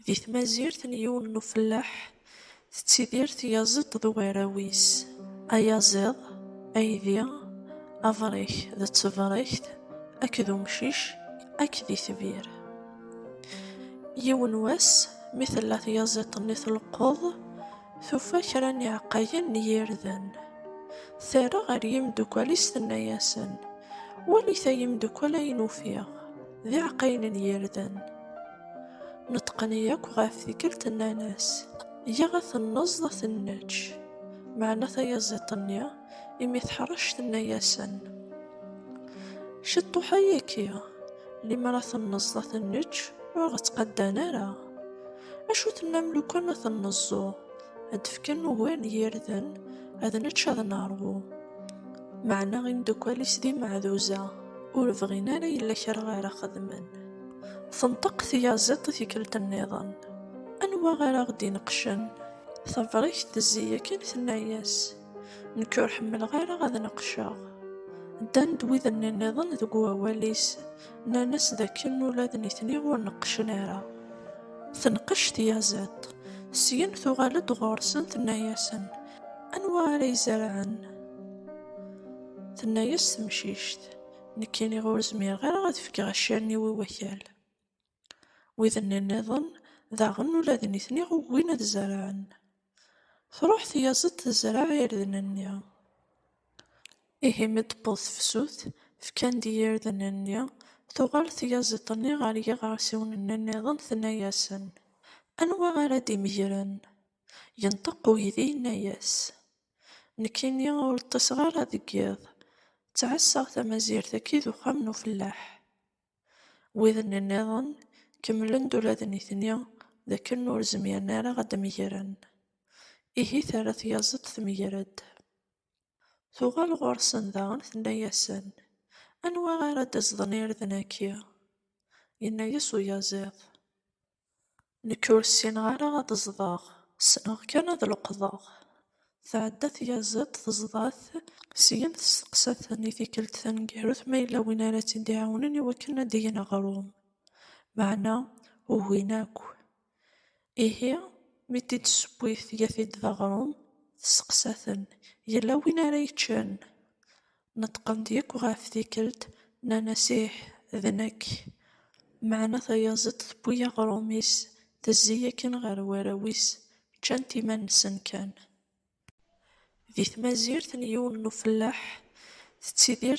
Di tmazirt n yiwen n ufellaḥ tettidir tyaziḍt d ugaraw-is, ayaziḍ, aydi, abrek d tebrekt akked umcic akked itbir. Yiwen wass mi tella tyaziḍt-nni tleqqeḍ, tufa kra n iɛeqqayen n yirden. Terra ɣer yimeddukkal-is tenna-yasen, Walit ay imeddukkal ayen ufiɣ. d iɛeqqayen n yirden. Neṭqen yakk ɣef tikkelt nnan-as, Yya ad ten-neẓḍ ad ten-neǧǧ. Meɛna tayaziḍt-nni, imi teḥṛec, tenna-yasen, Ciṭṭuḥ ayagi, limer ad ten-neẓḍ ad ten-neǧǧ, ur ɣ-ttqaddan ara. Acu tennam lukan ad ten-neẓẓu, ad d-fken ugar n yirden, ad nečč ad neṛwu? Meɛna imdukal-is d imeɛduza, ur bɣin ara yella kra ara xedmen. Tenṭeq tyaziḍt i tikkelt nniḍen, Anwa ara ɣ-d-ineqqcen? Tabrikt tezzi yakan tenna-yas, Nekk ur ḥemmleɣ ara ad neqqceɣ. Ddan-d wid-nni nniḍen deg wawal-is, nnan-as d akken ula d nitni ur neqqcen ara. Tenqec tyaziḍt, syin tuɣal-d ɣur-sen tenna-yasen, Anwa ara izerɛen? Tenna-yas temcict, Nekk iniɣ ur zmireɣ ara ad fkeɣ accaren-iw i wakal. Wid-nni nniḍen daɣen ula d nitni ugin ad zerɛen. Truḥ tyaziḍt tezreɛ irden-nni. Ihi mi d-tewweḍ tefsut, fkan-d i yirden-nni, tuɣal tyaziḍt-nni ɣer yiɣersiwen-nni nniḍen tenna-yasen, Anwa ara d-imegren? Yenṭeq uydi yenna-yas, Nekkini ur ṭṭiseɣ ara deg yiḍ, ttɛassaɣ tamazirt akid uxxam n ufellaḥ. Widen nniḍen kemmlen-d ula d nitni d akken ur zmiren ara ad d-megren. Ihi terra tyaziḍt tmeger-d. Tuɣal ɣur-sen daɣen tenna-yasen, Anwa ara d-izḍen irden-agi? Yenna-yas uyaziḍ, Nekk ur ssineɣ ara ad ẓḍeɣ, ssneɣ kan ad leqḍeɣ. Tɛedda tyaziḍt teẓḍa-t, syen testeqsa-ten i tikkelt taneggarut ma yella win ara tt-id-iɛawnen i wakken ad d-gen aɣrum. Meɛna ugin akk. Ihi, mi t-id-tessewwi tga-t-id d aɣrum, testeqsa-ten, Yella win ara yeččen? Neṭqen-d yakk ɣef tikkelt, nnan-as ih, d nekk. Meɛna tayaẓiḍt tewwi aɣrum-is, tezzi yakan ɣer warraw-is, ččan-t iman-nsen kan. Di tmazirt n yiwen n ufellaḥ tettidir